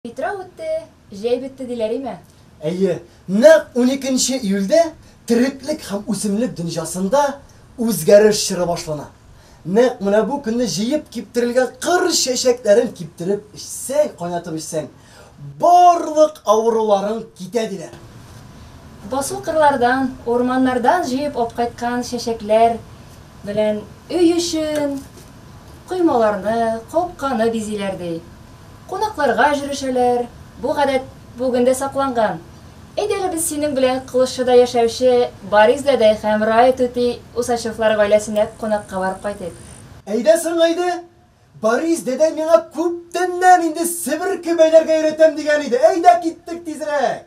Питрау үтте, җәй бетте диләр име? Әйе, нәкъ уникенче июльдә тереклек һәм үсемлек дөньясында үзгәреш чоры башлана. Нәкъ менә бу көнне җыеп киптерелгән кыр чәчәкләрен киптереп эчсәң, кайнатып эчсәң, барлык авыруларың китә диләр. Басу кырлардан, урманнардан җыеп алып кайткан чәчәкләр белән өй эчен, коймаларны, капканы бизиләр, ди. Кунакларга өжрешәләр, бу гадәт бүген дә сакланган. Әйдә әле без синең белән Кылычшыда яшәүче Борис дәдәй һәм Рая түти Усачевлар гаиләсенә кунакка барып кайтыйк. Әйдә соң, әйдә! Борис дәдәй миңа күптәннән инде себерке бәйләргә өйрәтәм дигән иде. Әйдә киттек тизрәк!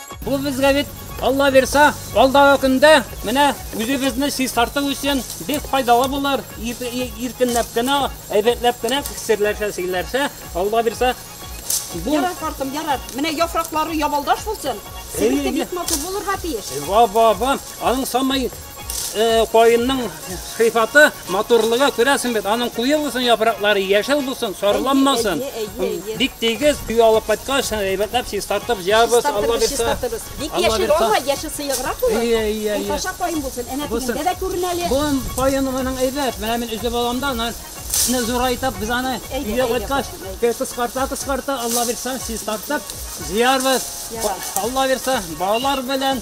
Бу безгә бит, Алла бирса, алдагы көндә менә үзебезне чистарту өчен бик файдалы булыр. Иркенләп кенә, әйбәтләп кенә серләрчә, серләрчә, Алла бирса, бу Ярар, картым, ярар. Менә яфраклары ябалдаш булсын. Себерке бик матур булырга тиеш. Ва-ва-ва. Аның самай кайынның сыйфаты, матурлыгы күрәсең бит, аның куе булсын яфраклары, яшел булсын, сарыланмасын. Бик тигез, өйгә алып кайткач, әйбәтләп чистартып җыябыз, Алла бирса. Бик яшел алма, яшел сыеграк булыр. Ия, ия, ия. Каша кайын булсын, әнә тигендә дә күренә әле. Бу кайын моның әйбәт, менә мин өзеп аламда, аны исне зурайтып, без аны өйгә кайткач, кыскарта, кыскарта, Алла бирса, чистартып җыярбыз. Алла бирса, балалар белән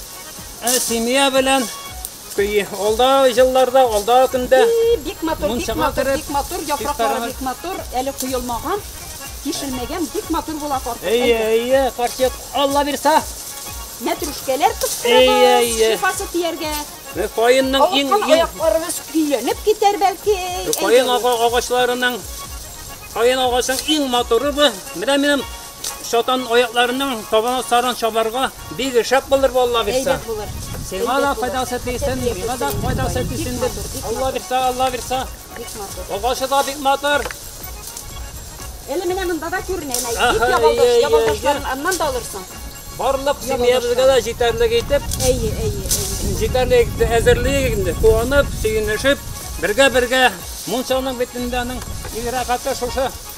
Ә семья белән көе. Алда җылларда, алда көндә. Бик матур, бик матур, бик матур, яфраклары бик матур, әле коелмаган, тишелмәгән, бик матур була карт. Әйе, әйе, карчык, Алла бирса. Мәтрүшкәләр кыстырыгыз, шифасы тияргә. Каенның иң иң аякларыгыз көйләнеп китәр бәлки. Каен агачларының Каен агачның иң матуры бу. Менә минем Шатан аякларының табана саран чабарга бик шәп булыр валла бирсә. Әйбәт булыр. Сиңа да файдасы тисен, миңа да файдасы тисен дип. Алла бирсә, Алла бирсә. Агачы да бик матур. Әле менә монда да күренә, әнә бик ябалдаш, ябалдашларын аннан да алырсың. Барлык семьябызга да җитәрлек итеп. Әйе, әйе, әйе. Җитәрлек итеп әзерлик инде. Куанып, сөенешеп, бергә-бергә мунчаның битендәнең игъракаты шушы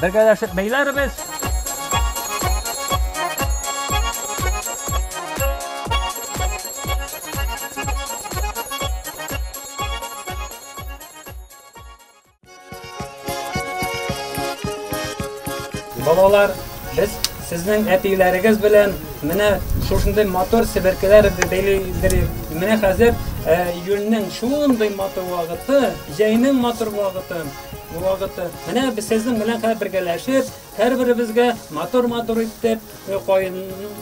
Бергәләшеп бәйләрбез. Балалар, без сезнең әтиләрегез белән менә шушындый мотор себеркеләр бәйләйдерик. Менә хәзер июльнең шундый матур вакыты, җәйнең матур вакыты. Вакыты. Менә без сезнең белән хәзер бергәләшеп, һәрберебезгә матур-матур итеп э, каен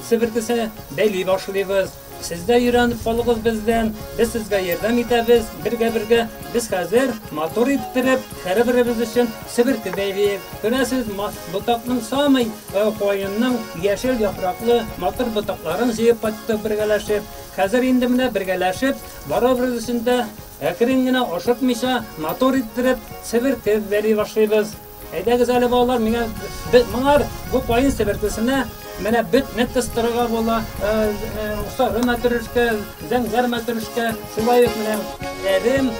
себертесе бәйли башлыйбыз. Сез дә өйрәнеп калыгыз бездән. Без сезгә ярдәм итәбез. Бергә-бергә без хәзер матур иттереп, һәрберебез өчен себерте бәйлиек. Күрәсез, ботакның самый э, каенның яшел яфраклы матур ботакларын җыеп кайттык бергәләшеп. Хәзер инде менә бергәләшеп барыбыз өчен дә Әкрен генә, ашыкмыйча, матур иттереп, себерке бәли башлыйбыз. Әйдәгез әле, балалар, миңа моңар бу каен себеркесенә менә бөт не кыстырырга була. Сары мәтрүшкә, зәңгәр мәтрүшкә, шулай ук менә әрем.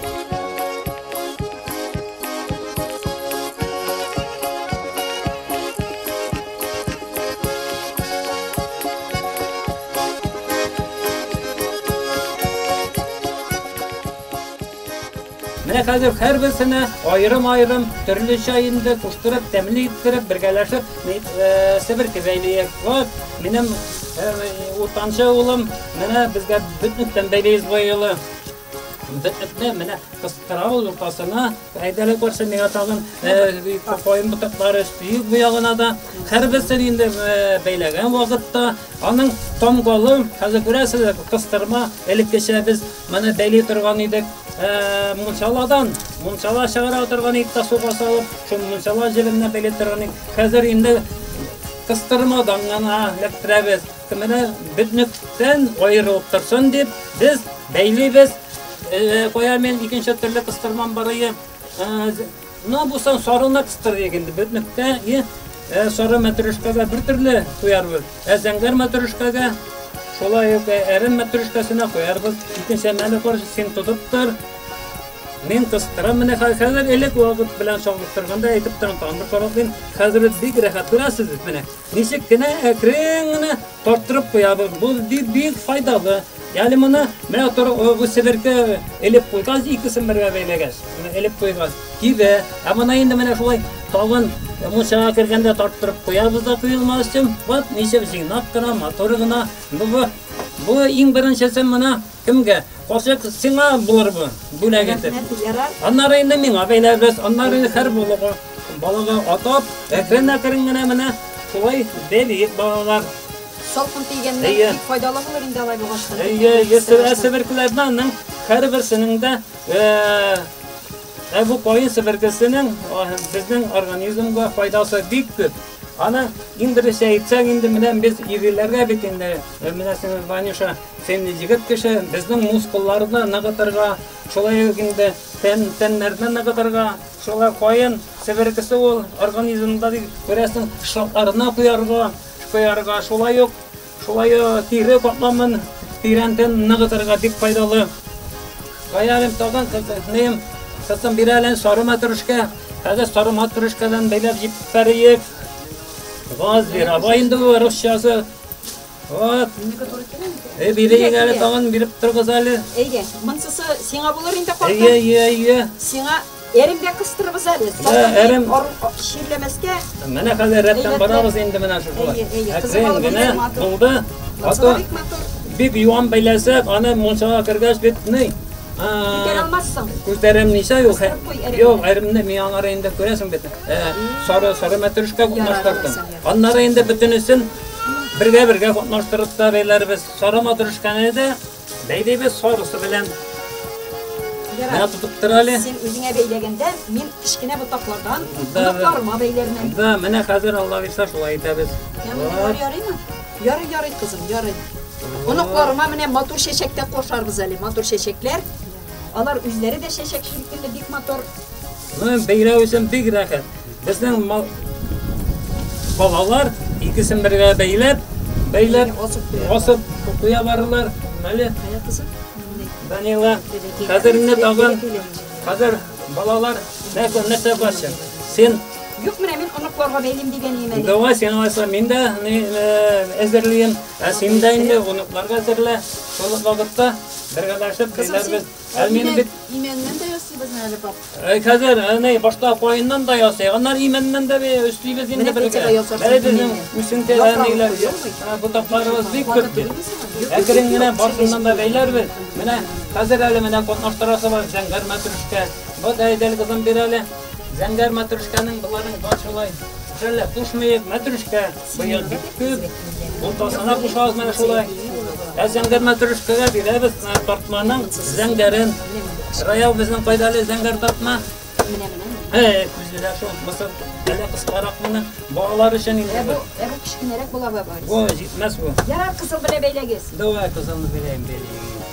Менә хәзер һәрберсенә аерым-аерым төрлечә инде куштырып, тәмле иттереп, бергәләшеп э, себер кизәйлиек. Вот, минем э, уртанчы улым, менә безгә бөтнектән бәйләйбез бу елы. Бөтнекне менә кыстыра ул уртасына, Әйдәле күрсә миңа тагын каем ботаклары өстиек бу ягына да. Һәрберсен инде бәйләгән вакытта аның тамгалы, хәзер күрәсез, кыстырма, элеккечә без моны бәйли торган идек. Мунчаладан, мунчала чыгара торган идек, суга салып, шул мунчала җебенә бәйли торган идек. Хәзер инде кыстырмадан гына эләктерәбез. Менә бөтнектән аерылып торсын дип, без бәйлибез. Кая мин икенче төрле кыстырмам барые. Менә булсын сарыны кыстырыйк инде. Бөтнектә и сары мәтрүшкәгә бер төрле куярбыз. Ә зәңгәр мәтрүшкәгә шулай ук әрем мәтрүшкәсенә куярбыз. Икенче мәле кор, син тотып тор. Мин кыстырам. Менә хәзер элек вакыт белән чагылып торганда әйтеп торам, тамыр карап мин хәзер бик рәхәт күрәсез бит менә. Ничек кенә әкрен генә тарттырып куябыз. Бу бик файдалы. Яли моны менә тор бу себерке элеп куйган икесен бергә бәйләгәч, менә элеп куйган. Кибе. Ә моны инде менә шулай тагын мунчага кергәндә тарттырып куябыз да куелмас өчен. Вот ничек җыйнак кына, матур гына. Бу бу иң беренчесе моны Кемгә? Калчык сиңа булыр бу бүләк итеп. Аннары инде миңа бәйләбез, аннары инде һәр булыгы балага атап, әкрен-әкрен генә менә шулай бәлиек балалар. Салкын тигәннән Әйе. бик файдалы булыр инде алай булгач. Әйе, ясыр әсеберкләрнең һәрберсенең дә э, ә бу каен себеркесенең э, безнең организмга файдасы бик күп. Аны иң беренче әйтсәң инде менә без ириләргә бит инде э, менә син Ванюша Син егет кеше, безнең мускулларны ныгытырга, шулай ук инде тән, тәннәрне ныгытырга, шулай каен себеркесе ул организмда дип күрәсең, шартларына куярга, куярга, шулай ук шулай ук тире катламын тирәнтен ныгытырга бик файдалы. Каялем тагын кызым, кызым бирәлен сары мәтрүшкә. Хәзер сары мәтрүшкәдән бәйләп җип бәрик. Газ бирә. Бу инде русчасы Вот. Эй, бирегез әле тагын биреп торыгыз әле. Әйе, монсысы сиңа булыр инде картым. Әйе, әйе, әйе. Сиңа эремгә кыстырыбыз әле. Әрем ширләмәскә. Менә хәзер рәттән барабыз инде менә шу. Әйе, әйе. Кызым генә булды. Ата бик юан бәйләсәк, аны монсага кергәч бит ни? Күтәрә алмассың. Күтәрәм ничә юк. Юк, әремне миңа инде күрәсең бит. Сары сары мәтрүшкә кушып Аннары инде бөтенесен бергә-бергә катнаштырып та бәйләрбез. Сары матрешканы да бәйлибез сарысы белән. Менә тотып тор әле. Син үзеңә бәйләгәндә, мин кечкенә ботаклардан ботакларыма бәйләрмен. Да, менә хәзер Алла бирсә шулай итәбез. Ярый, ярыймы? Ярый, ярый кызым, ярый. Оныкларыма менә матур чәчәктә кошарбыз әле, матур чәчәкләр. Алар үзләре дә чәчәк шикелле бик матур. Ну, бәйрәм өчен бик рәхәт. Безнең балалар икесен бергә бәйләп, бәйләп, асып куя барылар. Мәле. Данила. Хәзер инде тагын хәзер балалар нәрсә нәрсә барча? Син Юк, менә мин оныкларга бәйлим дигән имән. Давай син алса, мин дә әзерлим. Ә син дә инде оныкларга әзерлә. Шул вакытта бергәләшеп килербез. Ә минем бит имәннән дә ясыйбызмы әле пап? Э, хәзер әнә э, башта каеннан да ясый, аннан имәннән дә өстибез инде бергә. Әле безнең үсенте әниләр ботакларыбыз бик күп бит. Әкрен генә барсыннан да бәйләрбез. Менә хәзер әле менә катнаштырасы бар зәңгәр мәтрүшкә. Вот әйдәл кызым бир әле. Зәңгәр мәтрүшкәнең боларның бар шулай. Шәллә, кушмыек, мәтрүшкә. Быел бик уртасына кушабыз менә шулай. Ә зәңгәр мәтрүшкәгә бирәбез тартманың зәңгәрен. Раяу безнең кайдалы зәңгәр тартма. Эй, күзгә шул мисыр әле кыскарак менә балалар өчен инде. Бу бу кечкенәрәк була бабай. Бу җитмәс бу. Ярар, кызыл белән бәйләгез. Давай кызылны бәйләйм, бәйләйм.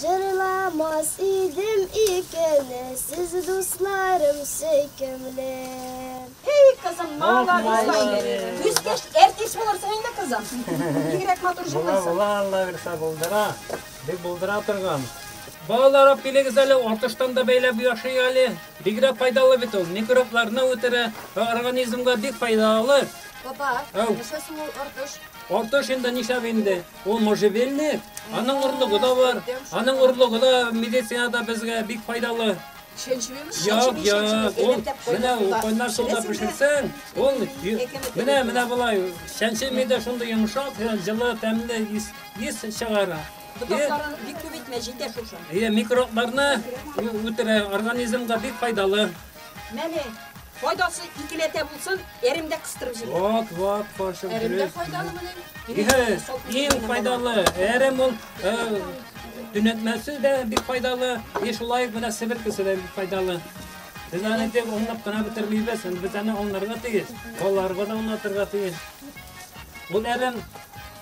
Җырламас идем икене сез дусларым сөйкемле. Эй, кызым, молодец, молодец. Үскәч, әртис булырсың инде, кызым. Бигрәк матур җырлыйсың. Була, була, Алла бирсә булдыра. Бик булдыра торган. Балалар апилегез әле, атыштан да бәйләп яши әле. Бигрәк файдалы бит ул, микробларны үтерә, организмга бик файдалы. Папа, нәрсә соң ул артыш? Артыш инде нишләп инде. Ул можжевельник, аның орлыгы да бар. Аның орлыгы да медицинада безгә бик файдалы. Як, як, ул менә кайнар суда пешерсәң, ул менә менә болай шәнче мидә шундый йомшак, җылы, тәмле ис, ис чыгара. Ботакларын бик күп итмә, җитә шушы. Иә, микробларны үтерә, организмга бик файдалы. Менә файдасы икеләтә булсын, әрем дә кыстырып җибәр. Вот, вот, фаршын. Әрем дә файдалы менә. Иң файдалы әрем ул төнәтмәсе дә бик файдалы, и шулай ук менә себер кесе дә бик файдалы. Без аны тек онлап кына бетермибез, без аны онларга тиеш, балаларга да онлатырга тиеш. Ул әрем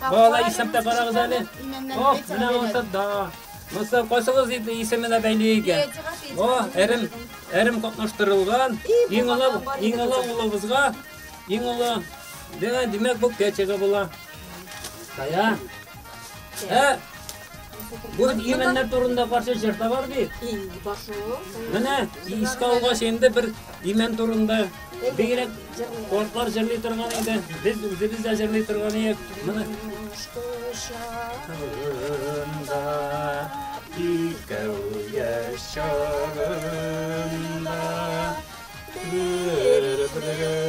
Балалар исәптә карагыз әле. Ох, менә ошып да. Монсы кайсыгыз иде исеменә бәйле икән. О, әрем, әрем катнаштырылган. Иң олы, иң олы улыбызга, иң олы. Димәк, бу кәчеге була. Тая. Ә, Бу именнәр турында парча җыр да бар бит. И, башу. Менә искә алгач инде бер имен турында бигрәк кортлар җырлый торган иде. Без үзебез дә җырлый торган идек. Менә кушкышында икәү яшь чагында бер-бер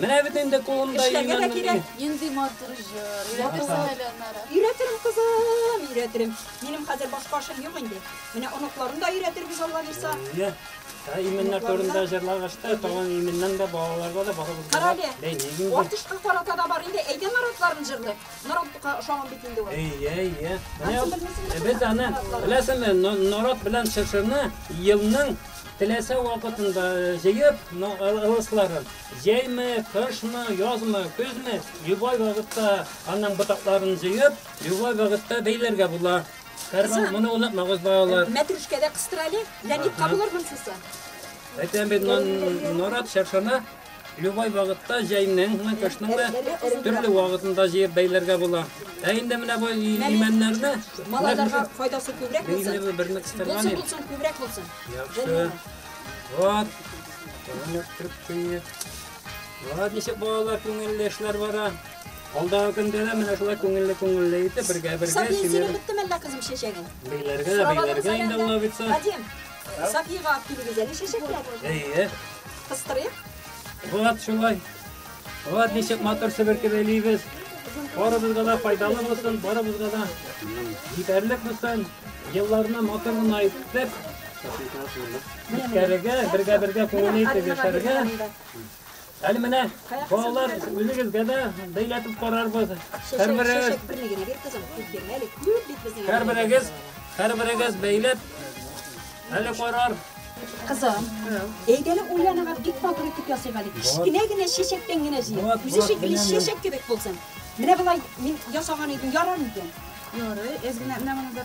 Менә бит инде кулымда Эшләргә дә кирәк. Нинди матур җыр. Өйрәтерсең әле аннары. Өйрәтерем, кызым, өйрәтерем. Минем хәзер башка эшем юк инде. Менә оныкларын да өйрәтербез, Алла бирса. Иә. Ә имәннәр турында җырлагач та, тагын имәннән дә балаларга да барыбызга да Карале. бәйлибез. Артышка карата да бар инде. Әйдә наратларын җырлый. Нарат бика ошаган бит инде ул. Иә, иә. Менә Ансамбль мисәле. без аны, беләсеңме, но- нарат белән чыршыны елның Теләсә вакытында җыеп, ылысларын җәйме, кышмы, язмы, көзме, любой вакытта аның ботакларын җыеп, любой вакытта бәйләргә була. Кызым, моны онытмагыз балалар. Мәтрүшкәдә кыстырали, Леонид кабулыр монсысы. Әйтәм бит, нарат чаршана Любой вакытта җәйнең, кышның да төрле вакытында җыеп бәйләргә була. Ә инде менә бу имәннәрне малайларга файдасы күбрәк булсын. Инде берне кыстырган. Булсын, булсын, күбрәк булсын. Яхшы. Вот. Тәмләп кертеп куйыйк. Вот ничек балалар күңелле эшләр бара. Алдагы көндә дә менә шулай күңелле күңелле итеп бергә бергә синең беттем әллә кызым чәчәгең. Бейләргә дә бейләргә инде ул бит. Сафига алып килегез әле чәчәкләр. Әйе. Кыстырыйк. Вот шулай. Вот ничек матур себерке бәйлибез. Барыбызга да файдалы булсын, барыбызга да җитәрлек булсын. Елларны матур гына итеп, үткәрергә, бергә-бергә күңелле итеп яшәргә. Әле менә балалар үзегезгә дә бәйләтеп карарбыз. Һәрберегез Һәрберегез һәрберегез бәйләп әле карар. Кызым, әйдәле уйланыгыз, бик матур итеп ясыйк әле. Кечкенә генә чәчәктән генә җыйып. Үзе шикелле чәчәк кебек булсын. Менә болай мин ясаган идем, ярар микән? Ярый, эзгенә менә монда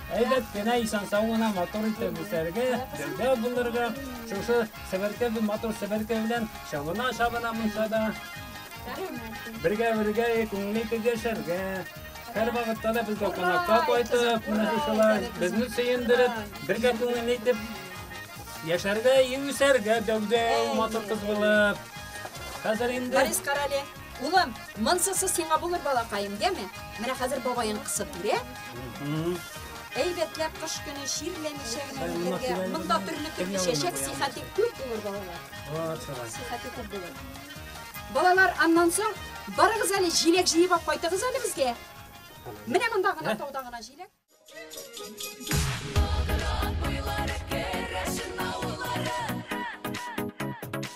Әйбәт кенә исән-сау гына матур итеп үсәргә, гәүдә булырга, шушы себерке матур себерке белән чабына чабына мунчада. Бергә бергә күңел итеп яшәргә. Һәр вакытта да безгә кунакка кайтып, менә шушылар безне сөендереп, бергә күңел итеп яшәргә, үсәргә гәүдә матур кыз булып. Хәзер инде Борис Карале, улым, монсыз сиңа булыр балакаем, дәме? Менә хәзер бабаең кысып бирә, Әйбәтләп кыш көне чирләмичә генә ниләргә. Монда төрле төрле чәчәк сихәте күп булыр балалар. Сихәте күп булыр. Балалар, аннан соң барыгыз әле җиләк җыеп алып кайтыгыз әле безгә. Менә монда гына тауда гына җиләк.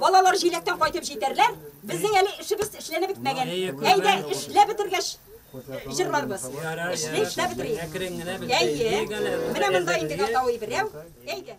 Балалар җиләктән кайтып җитәрләр. Безнең әле эшебез эшләнеп бетмәгән. Әйдә, эшләп бетергәч җырларбыз. Эшләп бетерик. Әкрен генә бетерик. Әйе. Менә монда инде гатавый берәү. Әйдә.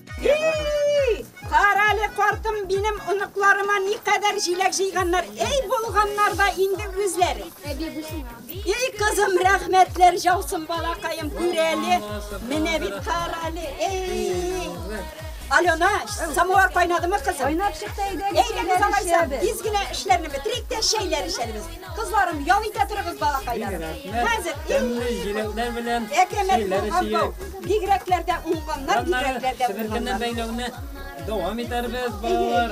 Карале, картым, минем оныкларыма ни кадәр җиләк җыйганнар. Эй, булганнар да инде үзләре. Эй, кызым, рәхмәтләр жаусын балакаем, күрәле. Менә бит карале. Эй! Алена, самовар кайнадымы кызым? Кайнап чыкты әйдә. Әйдә без алайса, тиз генә эшләрне бетерик тә чәйләр эчәрбез. Кызларым, ял итә торыгыз балакайлар. Хәзер тәмле җиләкләр белән чәйләр эчик. Бигрәкләр дә уңганнар, бигрәкләр дә уңганнар. бәйләүне дәвам итәрбез, балалар.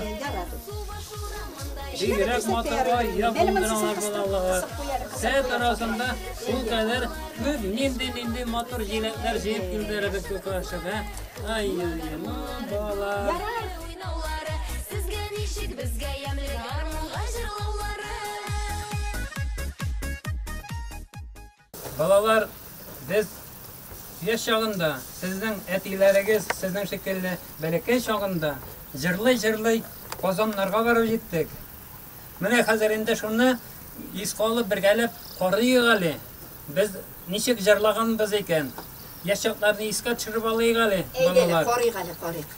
Бигрәк матур ай, якындыралар балалар. Сәт арасында шул кадәр күп нинди-нинди матур җиләкләр җыеп килдерәбез бу каршыга. Ай, ай, ну, балалар. Сезгә ничек безгә ямле гармунга җырлаулары. Балалар, без яшь чагында, сезнең әтиләрегез, сезнең шикелле бәләкәй чагында җырлый-җырлый Казаннарга барып җиттек. Менә хәзер инде шуны искә алып бергәләп карыйк әле. Без ничек җырлаганбыз икән? Яшь чакларны искә төшереп алыйк әле, балалар. Әйдәгез, карыйк әле, карыйк.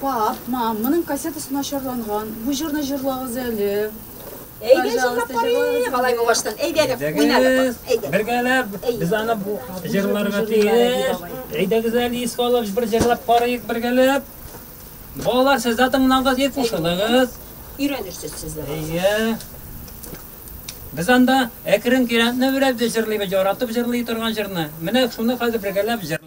Пап, мам, моның кассетасы начарланган. Бу җырны җырлагыз әле. Әйдә җырлап карыйк. Алай булгаштан. Әйдәгез, уйнагыз. Бергәләп без аны бу җырларга тиеш. Әйдәгез әле искә алып бер җырлап карыйк бергәләп. Балалар, сез дә тыңлагыз, ит кушылыгыз. Өйрәнерсез сез дә. Әйе. Без анда әкрен кирәкне беләбез җырлыйбыз, яратып җырлый торган җырны. Менә шуны хәзер бергәләп җырлыйбыз.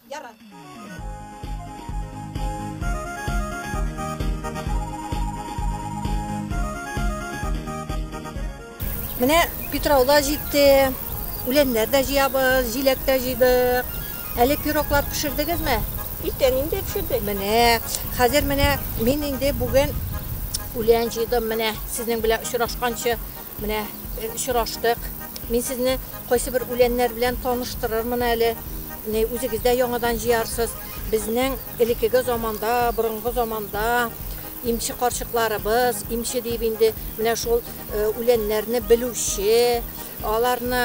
Менә Питрау да җитте, үләннәр дә җыябыз, җиләк тә җыйдык. Әле пироклар пешердегезме? Иртән инде пешердек. Менә, хәзер менә мин инде бүген үлән җыйдым менә. Сезнең белән очрашканчы Менә очраштык. Мин сезне кайсы бер үләннәр белән таныштырырмын әле. Үзегез дә яңадан җыярсыз. Безнең элекеге заманда, борынгы заманда имче карчыкларыбыз, имче диеп инде менә шул үләннәрне белүче, аларны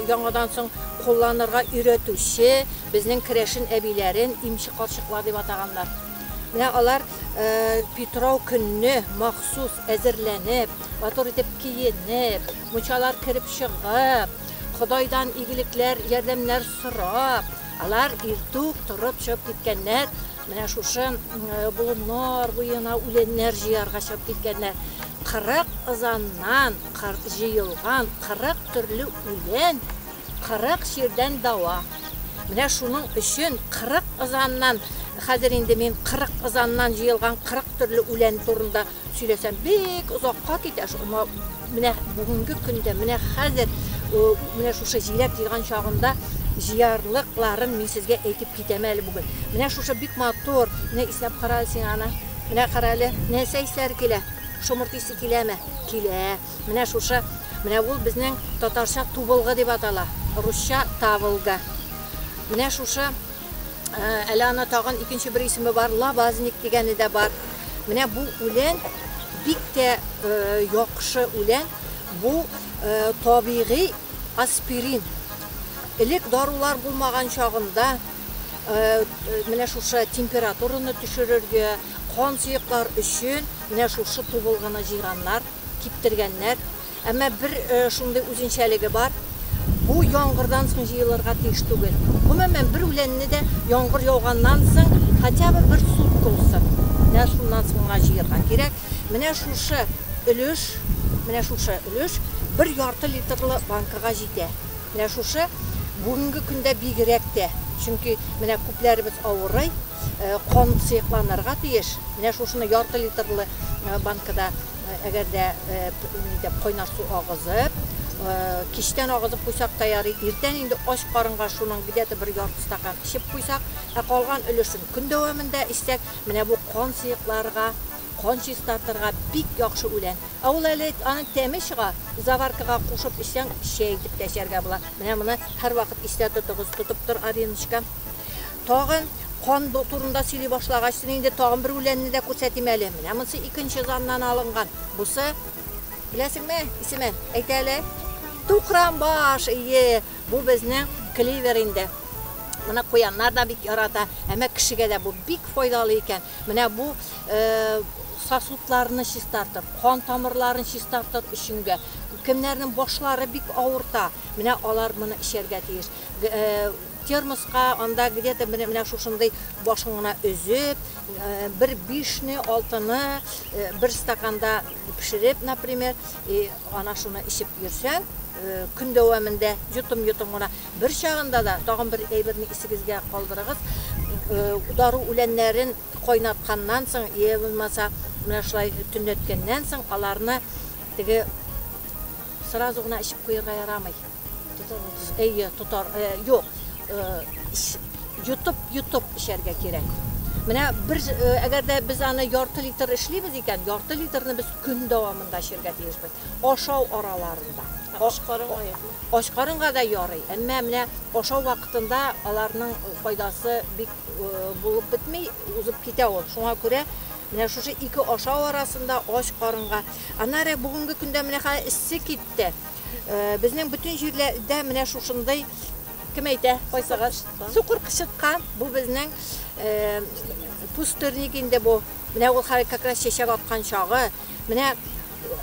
яңадан соң кулланырга өйрәтүче безнең керәшен әбиләрен имче карчыклар дип атаганнар. Менә алар питрау көнне махсус әзерләнеп, матур итеп киенеп, мунчалар кереп чыгып, Ходайдан игелекләр, ярдәмнәр сорап, алар иртүк торып чыгып киткәннәр, менә шушы болыннар буена үләннәр җыярга чыгып киткәннәр. 40 ызаннан җыелган 40 төрле үлән Кырык чирдән дава. Менә шуның өчен кырык ызаннан, хәзер инде мин кырык ызаннан җыелган кырык төрле үлән турында сөйләсәм, бик озакка китә шул. Аңа менә бүгенге көндә, менә хәзер, менә шушы җиләк җыйган чагында җыярлыкларын мин сезгә әйтеп китәм әле бүген. Менә шушы бик матур, менә иснәп кара әле син аны. Менә кара әле, нәрсә исләре килә? Шомырт исе киләме? Килә. Менә шушы, менә ул безнең татарча тубылгы дип атала, русча таволга. Менә шушы, әле аны тагын икенче бер исеме бар, лабазник дигәне дә бар. Менә бу үлән бик тә яхшы үлән, бу табигый аспирин. Элек дарулар булмаган чагында менә шушы температураны төшерергә, кан сыеклар өчен менә шушы тубылгыны җыйганнар. киптергәннәр. Әмма бер шундый үзенчәлеге бар, бу яңгырдан соң җыелырга тиеш түгел. Гомумән, бер үләнне дә яңгыр яуганнан соң хотя бы бер сутка үссен, менә шуннан соң гына җыярга кирәк. Менә шушы өлеш, менә шушы өлеш бер ярты литрлы банкага җитә. Менә шушы бүгенге көндә бигрәк тә, чөнки менә күпләребез авырый. э, кан сыекланырга тиеш. Менә шушыны ярты литрлы э, банкада э, әгәр дә нидә кайнар су агызып, кичтән агызып куйсак та ярый, иртән инде ач карынга шуның где-то бер ярты стакан эчеп куйсак, ә калган өлешен көн дәвамында эчсәк, менә бу кан сыекларга кан чистартырга бик яхшы үлән. Ә ул әле аның тәме чыга, заваркага кушып эчсәң, чәй итеп тә эчәргә була. Менә моны һәрвакыт истә тотыгыз, тотып тор, Ариночка. Тагын кан турында сөйли башлагач, син инде тагын бер үләнне дә күрсәтим әле. Менә монсы икенче заннан алынган. Бусы, беләсеңме, исеме? Әйтә әле. Тукран баш, ие, бу безнең кливер инде. Моны куяннар да бик ярата, әмә кешегә дә бу бик файдалы икән. Менә бу сосудларны чистартып, кан тамырларын чистартыр өченгә, кемнәрнең башлары бик авырта, менә алар моны эчәргә тиеш. Термоска анда где-то менә шушындый башын гына өзеп, бер бишне, алтыны бер стаканда пешереп, например, и ана шуны эчеп йөрсәң, көн дәвамында йотым-йотым гына. Бер чагында да тагын бер әйберне исегезгә калдырыгыз, дару үләннәрен кайнатканнан соң, я булмаса, менә шулай төнләткәннән соң аларны теге сразу гына эчеп куярга ярамый. Әйе, тотар. Э, юк, э, йотып, йотып эчәргә кирәк. Менә бер э, әгәр дә без аны ярты литр эшлибез икән, ярты литрны без көн дәвамында эчәргә тиешбез. Ашау араларында. Ач карынга юкмы? Ач карынга да ярый. Әмма менә ашау вакытында аларның файдасы бик булып бетми, узып китә ул. Шуңа күрә менә шушы ике ашау арасында ач карынга. Аннары бүгенге көндә менә хәзер эссе китте. Безнең бөтен җирләрдә менә шушындый кем әйтә, кайсыгыз? Сукыр кычытка. Бу безнең э, пустырник инде бу. Менә ул хәл как раз чәчәк аткан чагы. Менә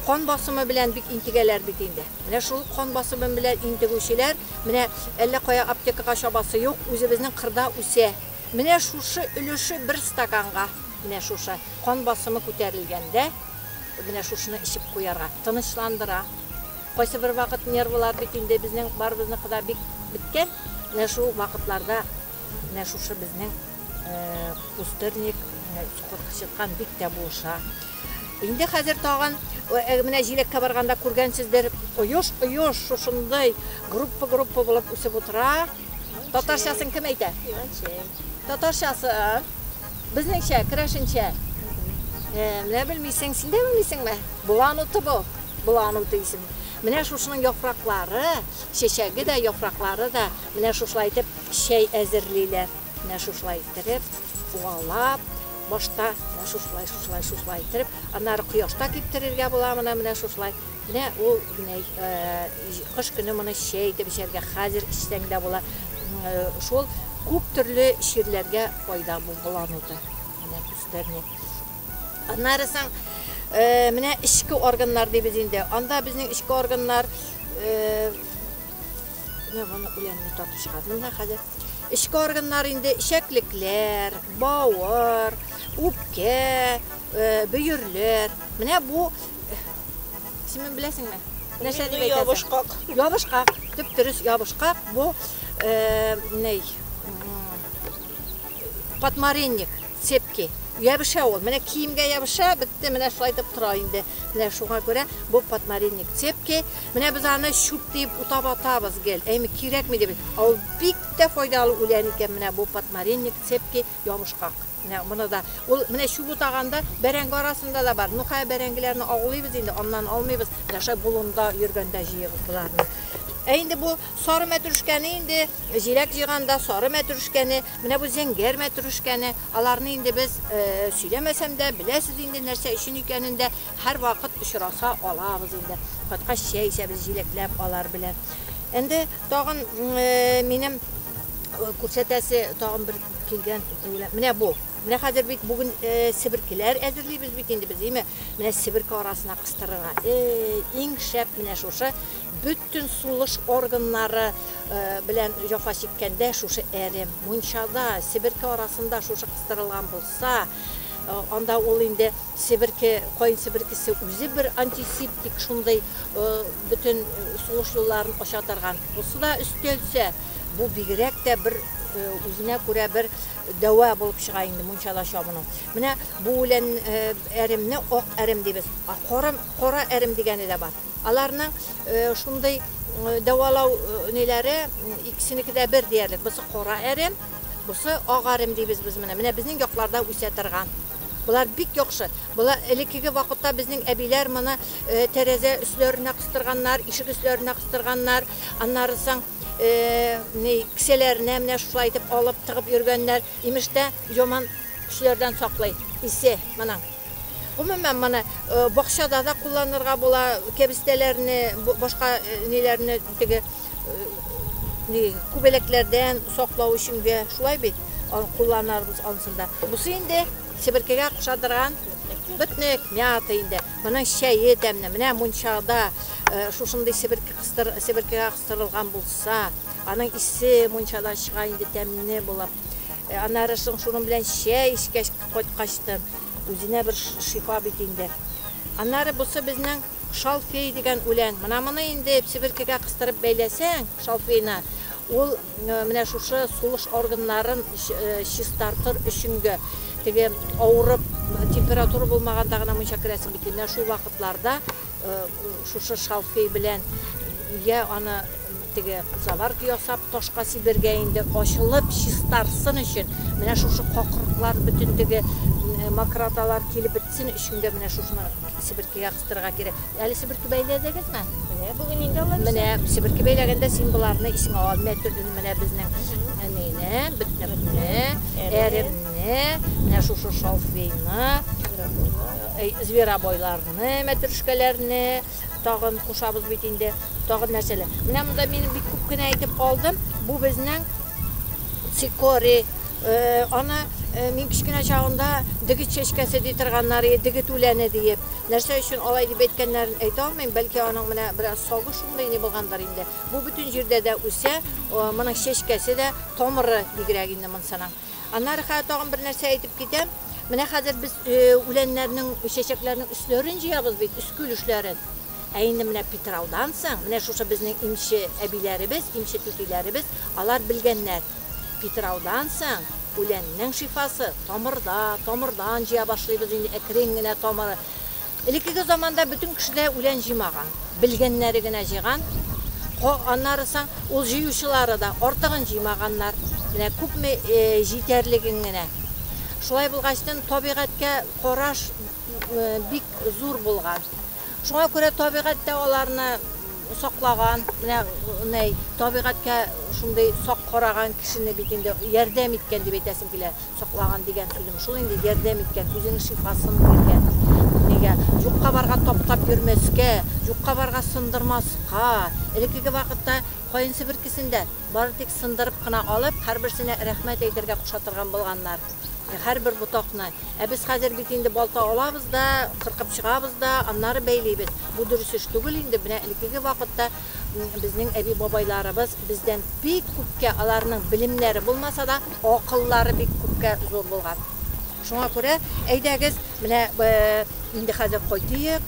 кан басымы белән бик интегәләр бит инде. Менә шул кан басымы белән интегүчеләр, менә әллә кая аптекага чабасы юк, үзебезнең кырда үсә. Менә шушы өлеше бер стаканга, менә шушы кан басымы күтәрелгәндә, менә шушыны эчеп куярга, тынычландыра. Кайсыбер вакыт нервылар бит инде безнең барыбызныкы да бик беткән. Менә шул вакытларда менә шушы безнең пустырник чыккан бик тә булыша. Инде хәзер тагын менә җиләккә барганда күргәнсездер, оеш оеш шушындый группа группа булып үсеп утыра. Татарчасын кем әйтә? Татарчасы безнеңчә, керәшенчә. Менә белмисең, син дә белмисеңме? Булан уты бу. Болану дисең. Менә шушының яфраклары, чәчәге дә, яфраклары да менә шушылай итеп чәй әзерлиләр. Менә шушылай иттереп, уалап, башта менә шушылай, шушылай, шушылай иттереп, аннары кояшта киптерергә була моны менә шушылай. Менә ул менә кыш көне моны чәй итеп эчәргә, хәзер эчсәң дә була. Шул күп төрле чирләргә файда бу болан уты. Менә күрсәтәм мин. Аннарысын э, менә эчке органнар дибез инде. Анда безнең эчке органнар э, менә моны үләнне татып чыгардым да хәзер. Эчке органнар инде ишәклекләр, бавыр, үпкә, э, бөерләр. Менә бу исемен беләсеңме? Нәрсә дип әйтәсең? Ябышкак. Ябышкак. Төп дөрес ябышкак. Бу э, ней, катмаренник Цепкий. Ябыша ул. Менә киемгә ябыша, бетте, менә шулай итеп тора инде. Менә шуңа күрә бу подмаринник цепкий. Менә без аны чүп диеп утап атабыз гел. Әйме кирәкми дип. Ә ул бик тә файдалы үлән икән менә бу подмаринник цепкий ябышкак. Менә моны да ул менә чүп утаганда бәрәңге арасында да бар. Ну хәзер бәрәңгеләрне агулыйбыз инде, аннан алмыйбыз. Менә шулай болында йөргәндә җыебыз боларны. Ә инде бу сары мәтрүшкәне инде җиләк җыйганда сары мәтрүшкәне Менә бу зәңгәр мәтрүшкәне, аларны инде без сөйләмәсәм дә, беләсез инде нәрсә өчен икәнен дә, һәрвакыт очраса алабыз инде. Кайткач чәй эчәбез җиләкләп алар белән. Инде тагын минем күрсәтәсе тагын бер килгән дигән. Менә бу. Менә хәзер бит бүген себеркеләр әзерлибез бит инде без, име? Менә себерке арасына кыстырырга. Иң шәп менә шушы Бөтен сулыш органнары белән җафа чиккәндә шушы әрем, мунчада, себерке арасында шушы кыстырылган булса, анда ул инде себерке, каен себеркесе үзе бер антисептик шундый бөтен сулыш юлларын ача торган. Бусы да өстәлсә, бу бигрәк тә бер үзенә күрә бер дәва булып чыга инде мунчада чабыну. Менә бу үлән әремне ак әрем дибез, ә корым кара әрем дигәне дә бар. Аларның шундый дәвалау ниләре, икесенеке дә бер диярлек. Бусы кара әрем, бусы ак әрем дибез без моны. Менә безнең якларда үсә торган. Болар бик яхшы. Болар элеккеге вакытта безнең әбиләр моны тәрәзә өсләренә кыстырганнар, ишек өсләренә кыстырганнар. Аннары соң ни кесәләренә менә шулай итеп алып тыгып йөргәннәр. Имеш тә яман көчләрдән саклый исе моның. Гомумән, моны бакчада да кулланырга була, кәбестәләрне, башка ниләрне теге күбәләкләрдән саклау өчен дә, шулай бит, кулланарбыз ансын да. Бусы инде себеркегә куша торган ботник, мята инде. Моның чәе тәмле. Менә мунчада шушындый себерке кыстыр, себеркегә кыстырылган булса, аның исе мунчадан чыга инде тәмле булып. Аннары соң шуның белән чәй эчкәч, Кайткач та үзенә бер шифа бит инде. Аннары бусы безнең шалфей дигән үлән. Менә моны инде псиберкегә кыстырып бәйләсәң, шалфейны, ул менә шушы сулыш органнарын чистартыр өченге теге авырып температура булмаганда гына мунча керәсең бит. Менә шул вакытларда шушы шалфей белән я аны Теге заварка ясап ташка сибәргә инде, ачылып чистарсын өчен. Менә шушы какырыклар, бөтен теге мокроталар килеп бетсен өчен дә менә шушны себеркегә кыстырырга кирәк. Әле себерке бәйләдегезме? Менә бүген инде алар. Менә себерке бәйләгәндә син боларны исеңә ал. Менә төрле менә безнең әнине, бөтнекне, әремне, менә шушы шалфейны, зверобойларны, мәтрүшкәләрне. Тагын кушабыз бит инде, тагын нәрсәләр. Менә монда мин бик күп кенә әйтеп калдым. Бу безнең цикорий. Аны мин кечкенә чагымда дегет чәчкәсе ди торганнар, дегет үләне диеп. Нәрсә өчен алай дип әйткәннәрен әйтә алмыйм, бәлки аның менә бераз сагы шундый ни булгандыр инде. Бу бөтен җирдә дә үсә, моның чәчкәсе дә, тамыры бигрәк инде монсының. Аннары хәзер тагын бер нәрсә әйтеп китәм. Менә хәзер без үләннәрнең, чәчәкләрнең өсләрен җыябыз бит, өскүл өсләрен. Ә инде менә Питраудан соң, менә шушы безнең имче әбиләребез, имче түтиләребез, алар белгәннәр. Питраудан соң үләннең шифасы тамырда, тамырдан җыя башлыйбыз инде әкрен генә тамыры. Элеккеге заманда бөтен кеше дә үлән җыймаган. Белгәннәре генә җыйган. Ко, аннары соң ул җыючылары да артыгын җыймаганнар. Менә күпме җитәрлеген генә. Шулай булгачтын, табигатькә караш бик зур булган. Шуңа күрә табигать тә аларны саклаган. Менә ней табигатькә шундый сак караган кешене бит инде ярдәм иткән дип әйтәсем килә. Саклаган дигән сүзем шул инде, ярдәм иткән, үзенең шифасын биргән. Нигә? Юкка барга таптап йөрмәскә, юкка барга сындырмаска. Элеккеге вакытта каенчы беркесен дә бары тик сындырып кына алып, һәрберсенә рәхмәт әйтергә куша торган булганнар. Һәрбер ботакны. Ә без хәзер бит инде балта алабыз да, кыркып чыгабыз да, аннары бәйлибез. Бу дөрес эш түгел инде, менә элеккеге вакытта Безнең әби-бабайларыбыз бездән бик күпкә, аларның белемнәре булмаса да, акыллары бик күпкә зур булган. Шуңа күрә, әйдәгез, менә инде хәзер кайтыйк,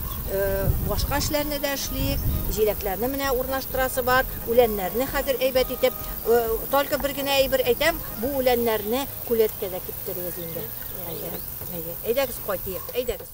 башка эшләрне дә эшлик. Җиләкләрне менә урнаштырасы бар, үләннәрне хәзер әйбәт итеп. Только бер генә әйбер әйтәм, бу үләннәрне күләткәдә киптерегез инде. Әйдәгез, кайтыйк, әйдәгез.